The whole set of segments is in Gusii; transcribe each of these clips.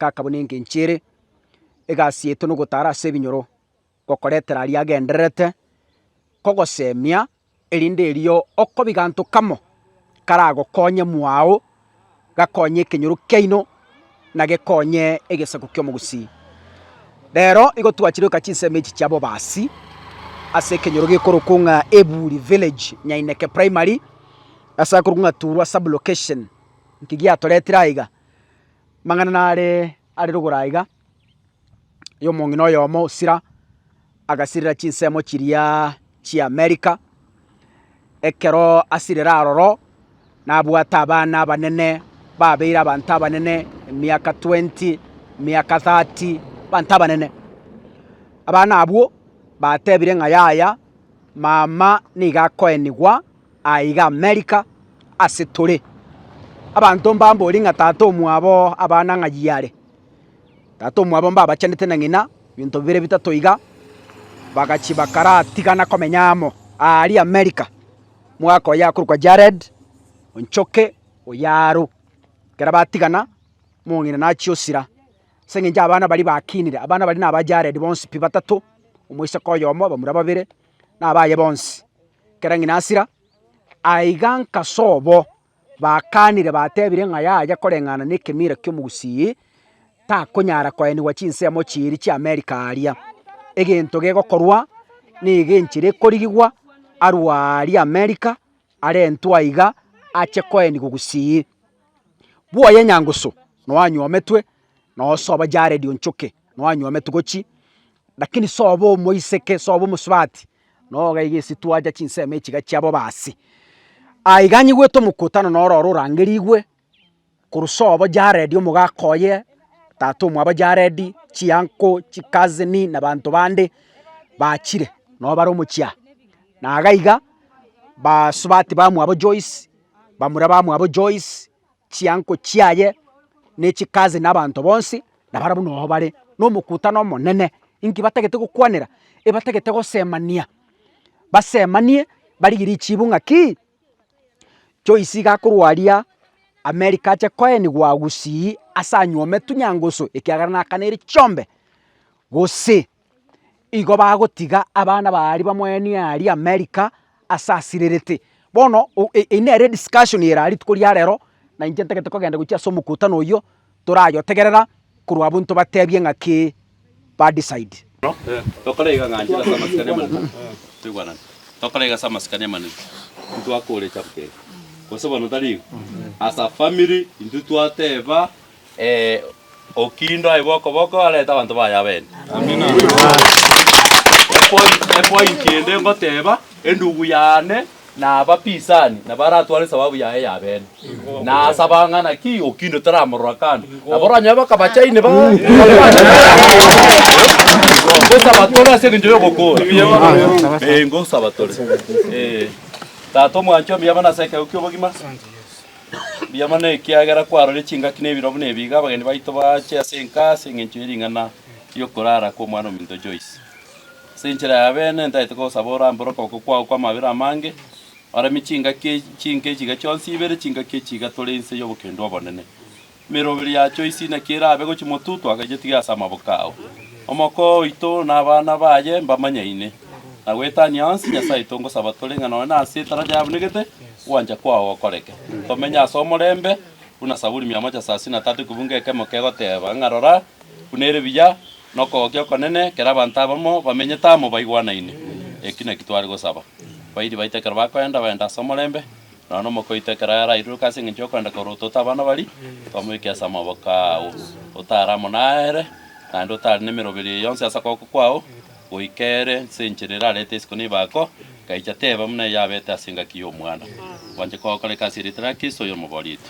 gakabuna engencho ere, egasi yaito na ogotara ase ebinyoro, gokoretera aria agendererete kogosemia, erinde erio okoba eganto kamo karagokonye mwago, gakonye ekenyoro kiaino na gekonye egesaku ki'omogusii. Rero igo twachire goika chinsemo echi chia bobasi ase ekenyoro gekorokwa ng'a Eburi Village, Nyaineke Primary, ase akorokwa ng'a Turwa Sub-location. Inki giatoretire aiga? Mang'ana nare are rogoro aiga, y'omong'ina oyomo osira agasirera chinsemo chiria chi'America, ekero asirire aroro nabwate abana abanene babeire abanto abanene emiaka twenty, emiaka thirty, abanto abanene. Abana abwo batebire ng'a yaya mama nigo akoenigwa Aiga Amerika ase tore. Abanto mbambori ng'a tata omwabo oo abana ng'ayio are. Tata omwabo mbabachanete na ng'ina, ebinto bibere bitato iga, bagachia bakaratigana komenya amo aaria Amerika. Mwaka oyo akorokwa Jared Onchoke oyo aro. Ekero batigana, omong'ina nachia osira. Ase eng'encho abana baria bakinire, abana baria naba Jared bonsi pi batato, omoiseke oyomo, bamura babere. nabaye bonsi, ekero ng'ina asira, aiga nkaso obo bakaanire batebire ng'a yaye koreng'ana nekemira ki'omogusii takonyara koenigwa chinsemo chiiri chi'Amerika aaria. Egento gegokorwa nigo enchera ekorigigwa arue aaria Amerika arentwe aiga ache koenigwa gusii. Bwoye Nyangusu, noanyometwe nosoba Jared Onchoke. nwanywa ametuko chii, lakini sobe omoiseke, sobe omosubati, noo iga iga esitwe acha chinsemo echi iga chiabo basi. Aye iga anyigwete omokutano noro oro orangerigwe, korwa sobo jaredi omogaka oye, tata omwabo jaredi, chianko, chikazini, na abanto bande bachire noo bare omochia. Na iga iga basubati bamwabo Joyce, bamura bamwabo Joyce. chiango chiaye ne chikazi na abanto bonsi, na barabwo noyo bare na omokutano omonene. Inki batagete gokwanera? Ebatagete gosemania, basemanie barigie richibu ng'aki, Joyce iga akorwa aria America ache koenigwa gusii ase anywome tunyangusu ekiagera nakaneirie chiombe, gose igo bagotiga abana ba aria bamweenie aria America ase asirerete. Bono o- e- eyio nere ediscussion ere aria rituko ria rero, na inche ntagete kogenda gochia ase omokutano oyio, torayotegerera korwa abwo ntobatebie ng'a ki ba decide. Tokoraiga ng'a nchire ase amasikani amanene, toigwanane, tokoraiga ase amasikani amanene, intwe akore echabuka eye, gose bono tari igo? As a family intwe twateba. Ee, Okindo aigwe okoboko, arete abanto baye abene. Epoint- epointi ende ngoteba, endugu yane na abapisani nabo aratware esababu yaye ya bene. Nasaba ng'a naki Okindo taramorora kando. Nabo oranyore bakabachaini ba- Ngosaba tore ase eng'encho y'ogokora. Ee, ngosaba tore. Ee. Tata omwanchwa, omuyabana ase ekegego ki'obogima. Mbuya mono ekiagera kwarorire chingaki na ebirobu na ebiiga abageni baito baache ase enka ase engencho ye ring'ana riokorara kw'omwana ominto Joyce. Ase enchera ya bene ntaete kogosaba orambore okoboko kwao kw'amabera amange, oremie chingaki chinke chiga chionsi ibere chingaki echiga tore inse y'obokendo obonene. Emeroberi yachio isi naki erabe gochia motutu agayetige ase amaboko ao. Omokoo oito na abana baye mbamanyaine, na goetania onsi Nyasae tongosaba tore ng'a nonye nase etara yabunegete ogwancha kwao gokoreke, tomenye ase omorembe, buna Saburi mia amachasasi na tatu ekebungo ekemo kegoteba ng'a rora, buna ere biya nokogokia okonene ekero abanto abamo bamenyete amo baigwanaine. Eki naki tware gosaba. Bairi baito ekero bakoenda, baende ase omorembe. Nonya nomokoito ekero yarairuruke ase engencho y'okwenda korwa ototo abana baria, tomoike ase amaboko ao, otare amo nere, naende otare nemeroberi eye yonsi ase okoboko kwao, goika ere nse enchera erarete isiko na ebaako, egaicha teba buna eyabete ase engaki y'omwana. Gwancha kogokoreka ase erieta ria Kristo, oyo omoborito.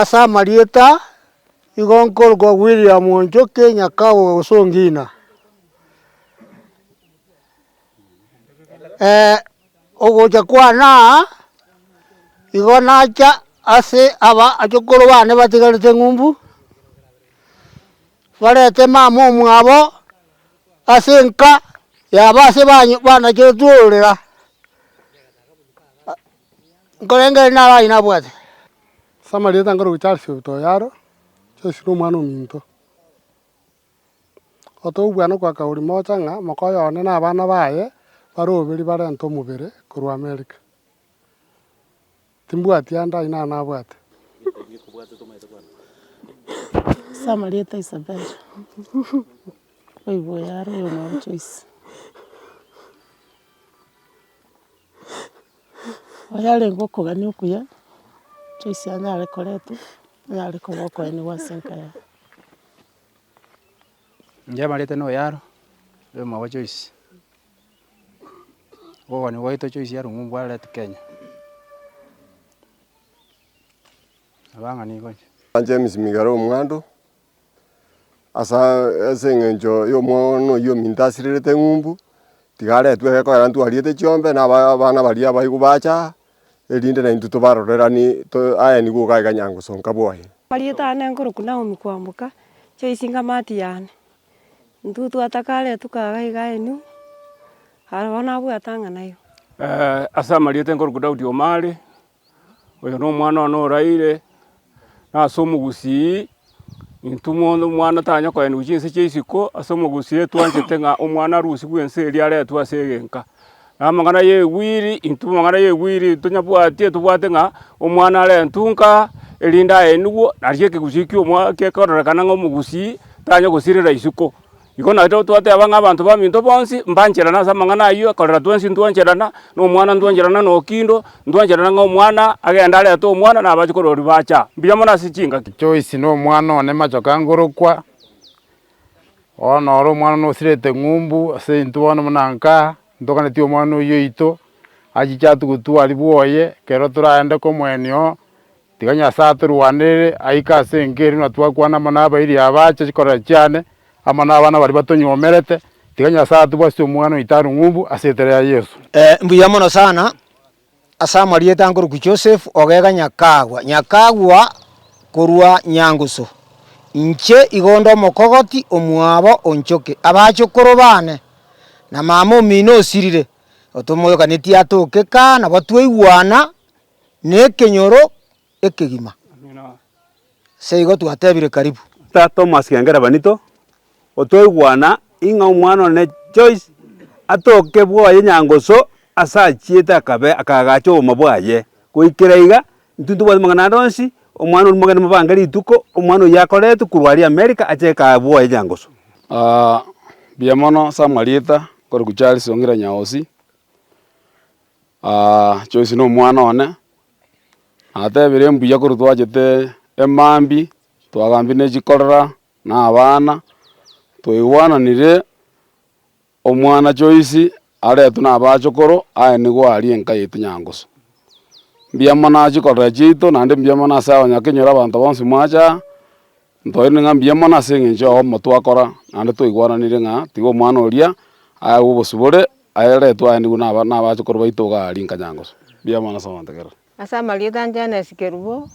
Ase amarieta igo nkorokwa William Njoki Nyakagwa Osongina. ogocha kwane aa, igo nacha ase aba abachokoro bane batigarete ng'umbu, barente mama omwabo ase enka yabo ase banyo banacheretwe ororera, nkorenge ere naro aye nabwate. Samarieta nkaroche Charles Obiito Oyaro, Charles na omwana ominto. Otogokwana kwa Kaori mocha ng'a mokoyo one na abana baye bare oberi barente omobere korwa Amerika. Timbwati ande ai nao nabwate. Ase amarieta Isabella oigwe oyare oyo noo Joyce. Oyarenge okogania okuya Joyce anyare koretwa, anyare koba okoenigwa ase enka yaye. Inche amarita na oyaro, oyo omogoko Joyce, obokoni bwaito Joyce ya rungu mbwarire ati Kenya. Abang'ina nigo inche. An James Migaro Omwando, asa ase eng'encho ya omwoono oyio ominto asirerete ng'umbu, tiga aretwe egekogera ntwariete chiombe, na abana baria abaigwa bacha aa, erinde naintwe tobaroreranie, to, aye nigo ogaika nyangosonka bwaye. Marieta ane nkoroku Naomi kwamboka, Choisi ng'amati yane, intwe twatakare tukaga iga enyu, aroro nabwate ang'e nayo. Ase amarieta enkoroku Daudi Omare, oyo nomwana one oraire, na ase omogusii, intwe omwana tanyare kogenda gochia inse chia isiko, ase omogusii etwanchete ng'a omwana arusi bw'ense eria aretwe ase egenka. Na amang'ana y'egwiri, intwe amang'ana y'egwiri tonyabwati etobwate ng'a omwana arentwe nka, erinde aenigwe, nario ekegusii kia omwa- kiakororekana ng'a omogusii tanyare gosirera isiko. Igo naete gotwateba ng'a abanto baminto bonsi mbancherana ase amang'ana ayio, ekorera twensi ntwancherana, na omwana ntwancherana na okindo, ntwancherana ng'a omwana agende arete omwana na abachukoro baria bacha. Mbuya mono ase chingaki. Joyce na omwana one machoka ngorokwa, bono oro omwana one osirete ng'umbu ase intwe bono buna nkaa, ntoganeti omwana oyio oito, achiche atugutwa aria bwoye, ekero toraende komoenia oo. Tiga Nyasae atorwanerere aike ase enka eria na twakwana amo nabairi aba ache chikorera chiane, amo nabana baria batonywomerete, tiga Nyasae atubwasie omwana oito are ng'umbu ase eritera ya Yeso. Ee, mbuya mono sana, ase amarieta nkorokwa Joseph Ogega Nyakagwa, Nyakagwa korwa Nyangusu. Inche igo nde omokogoti omwabo o Nchoki, abachokoro baane, na mama omino osirire, otomoyokanetie atoke kaa nabo twaigwana nekenyoro ekegima. Seigo twatebire karibu. Tata Thomas Kengera Benito, otoigwana ing'a omwana one Joyce atoke bwoye nyangoso ase achiete akabe akaagacha oboma bwaye. Goikera iga, intwe ntobwate amang'ana ande onsi, omwana oria mogeni mobange rituko, omwana oyio akoretwe korwa aria Amerika ache kaa bwoye nyangoso. Mbuya mono ase amarieta, nkorokwa Charles Ong'ira Nyaosi. Joyce nomwana one, natebire mbuya korwa twachete emambia, twagambia ne chikorera na abana, twaigwananire omwana Joyce aretwe na abachokoro aye nigo aria enka yaito nyangusu. Mbuya mono ase chikorera chiaito naende mbuya mono ase abanyakenyoro abanto bonsi mwacha aa, Ntoirane ng'a mbuya mono ase engencho yao omomo twakora, naende twaigwananire ng'a tiga omwana oria ayagwe obosibore, aye eretwe aye nigo naba nabachokoro baito iga aria inkanyangoso. Mbuya mono ase ogontegerera. Ase amarieta a Janes Kerubo,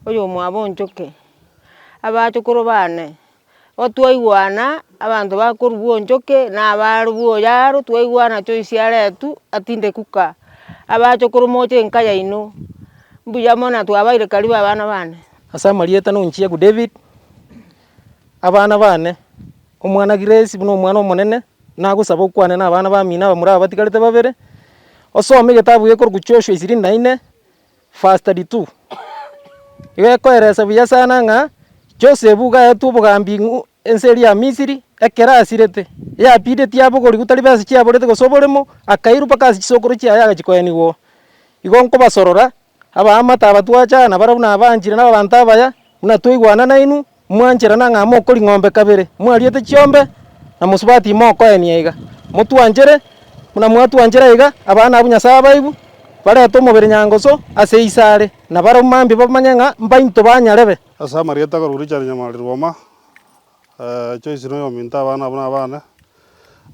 oyomwabo o Nchoki, abachokoro baane, igo twaigwana abanto bakorugwa o Nchoki na abarugwa o Yaro, twaigwana choice aretwe atinde kuka, abachokoro moche enka yaino, mbuya mono na twabaire karibu abana baane. Ase amarieta nonchiegwe David, abana bane, omwana Grace buna omwana omonene, nagosaba okwane nabana bamino aba morabatigarete babere, osome egetabu gekorokwa Joshua ishirini na ine verse thirty two. Igo ekoeresa buya sana ng'a Josebu iga aetwe obogambi ng'u- ense eria ya Misiri, ekero asirete, yapidetie abogorigwe tari besa chiaborete gose oboremo, akairwa mpaka ase chisokoro chiaye agachia koenigwa oo. Igo nkobasorora Abaamate aba twachana barabwo nabanchire nababanto abaya, buna twaigwana nainwe, mwancherana ng'a mokori ng'ombe kabere, mwariete chiombe, na mosuba timokoenia iga. Motwanchere, buna mwatwanchera iga, abana abwo Nyasae abaigwe, barete omobere nyangusu ase isare, na barabwo mambia bamanye ng'a mbainto ba nyarebe. Ase amarieta akorwa Richard Nyamari Rwoma. Joyce noyo ominto abana abwo nabane.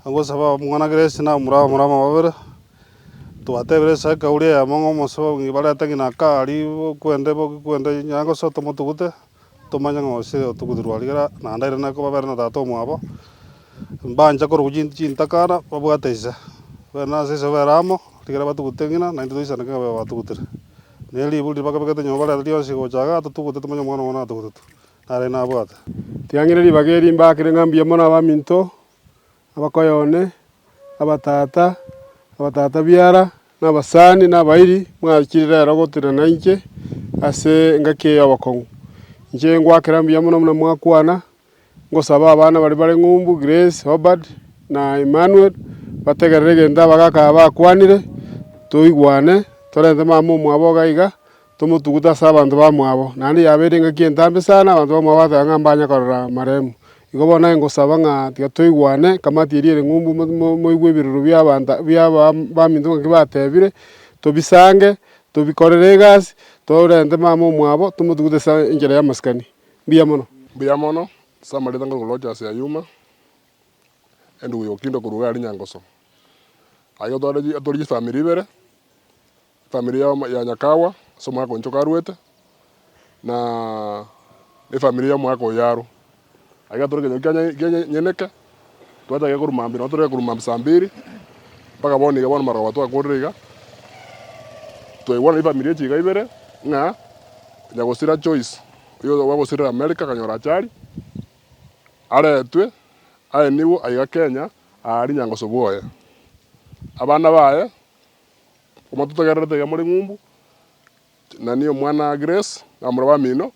Ngosaba mwana Grace na omura omorama babere. Twatebire esaa ekauri eyemo ng'a omosee obo ng'ai barete ng'ina akari bokwende boki kwende nyaye gose tomotugute tomanye ng'a gose otugutirwe aria iga naende airane na kobabere na tata omwabo. Mbanche korokwa chin chintakana babwate ise. Bere nase ise babere amo rigira batugute ng'ina naintwe toisaneke ng'a batugutire. Ne riburi riria bakabekete nyomba bareta rionsi gocha igaa totugute tomanye omwana obo natogotwe. nare nabwate. Tiang'ina ribaga eri mbaakire ng'a mbuya mono abaminto, abakoya one, abatata, abatata biara, na abasani, na abairi, mwachire rero gotenena nainche ase engaki eye y'obokong'u. Inche ngwaakera mbuya mono buna mwakwana, ngosaba abana baria bare ng'umbu, Grace, Obad, na Emmanuel, bategerere egento abagaka aba bakwanire, toigwane, torente mama omwabo iga iga, Tomotugute ase abanto bamwabo, naende yaba ere engaki entambe sana abanto bamwabo bateba ng'a mbanye korora maremu. Igo bono naye ngosaba ng'a tiga toigwane, kamati eria ere ng'umbu moigwe ebiroro bi'abanto bia baminto ng'aki batebire, tobisange, tobikorere egasi, torente mama omwabo, tomotugute ase enchera y'amasikani. Mbuya mono. Mbuya mono, ase amarita nkorwa goroche ase Ayuma, Enduguyokindo korwa igare rinyangoso. Aye otore atorigye efamiri ibere. efamiri ya ya nyakagwa ase omogaka onchoka arwete, na efamiri ya omogaka oyo arwe. Aiga tore ekenyoro kia kia enye enyeneke, twachake korwa mambia nabo tore korwa mambia saa mbiri, mpaka bono iga bono marogoba twakorire iga, twaigwana na efamiri echi iga ibere, ng'a nyagosira Joyce oyo bwagosirire America akanyora achari, aretwe aenigwe aiga Kenya aaria nyangoso bwoye. Abana baye. Komototogererete iga more ng'umbu, Nani omwana Grace, na omorwa bamino,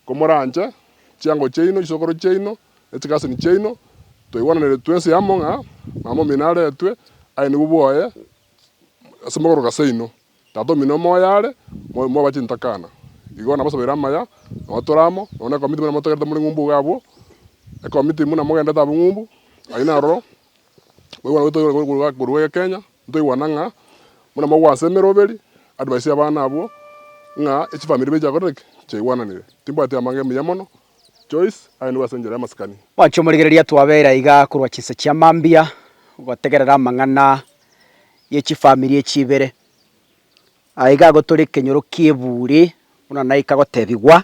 komoranche, chiango chiaino, chisokoro chiaino, ne chikasini chiaino, twaigwananire twensi amo ng'a mama omino aretwe, aye nigwo bwoye ase mogorogo aseino. Tata omino omoyo are, moyo moba chintakana. Igo nabasobeire amaya, nabo tore amo, nonye nekomiti buna mototogerete more ng'umbu iga abwo, ekomiti buna mogenderete abwo ng'umbu, aye naroro, Mwaigwa ng'a toigwa korwa gwa korwa gwa Kenya, ntoigwana ng'a buna mogwa ase emeroberi, advice y'abana abwo, ng'a echifamiri ibere chiakorire ki? Chiaigwananire. Timbwati amang'ana emiya mono, Joyce aye nigo ase enchera y'amasikani. Mwanche omorigereria twabeire aiga korwa chinsa chia mambia gotegerera amang'ana ye chifamiri echi ibere. Aiga igo tore ekenyoro ki'ebuuri buna naika gotebigwa.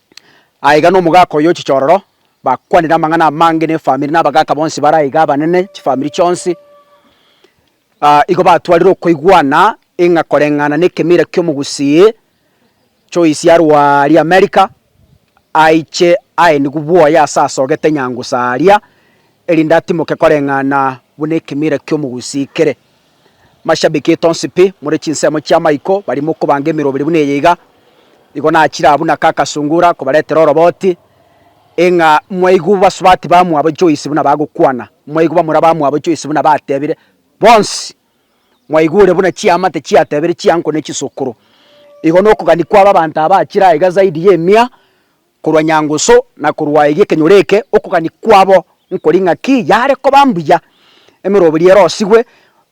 Aiga nomogaka oyo chichororo bakwanire amang'ana amange nefamiri na abagaka bonsi bare aiga abanene, chifamiri chionsi. Igo batwarire okoigwana ing'a koreng'ana nekemira kiomogusii choisi arwa aria Amerika aiche aenigwe bwoye ase asogete nyangusa aria, erinde atimoke koreng'ana buna ekemira kiomogusii kere. Mashabiki tonsi pi more chinsemo chia Michael bari mokobanga emeroberi buna eye iga, igo nachire abwo na kaka Sungura kobaretera oroboti, e ng'a mwaigwe basubati bamwabo Joyce buna bagokwana, mwaigwe bamura bamwabo Joyce buna batebire, Bonsi mwaigure buna chiamate chiatebire chianko ne chisokoro. Igo nokogani kwabo abanto aba achire aiga zaidi y'emia. korwa nyangusu na korwa eria ekenyoro eke, okogania kwabo nkori ng'aki yare koba mbuya, emeroberi erosigwe,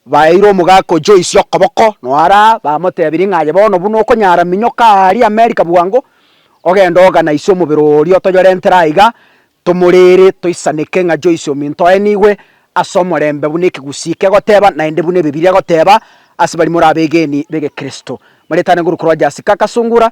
baeire omogaka o Joyce okoboko, noo araa, bamotebiri ng'a aye bono buna okonyara minyoka aaria Amerika bwango, ogende oganaisie omobere oria otoyorentere aiga, tomorere, toisaneke ng'a Joyce ominto oye nigwe ase omorembe buna ekegusii kegoteba, naende buna Ebibilia egoteba ase baria more abegeni b'Egekristo. Maritani korwa korwa Jessica Kasungura.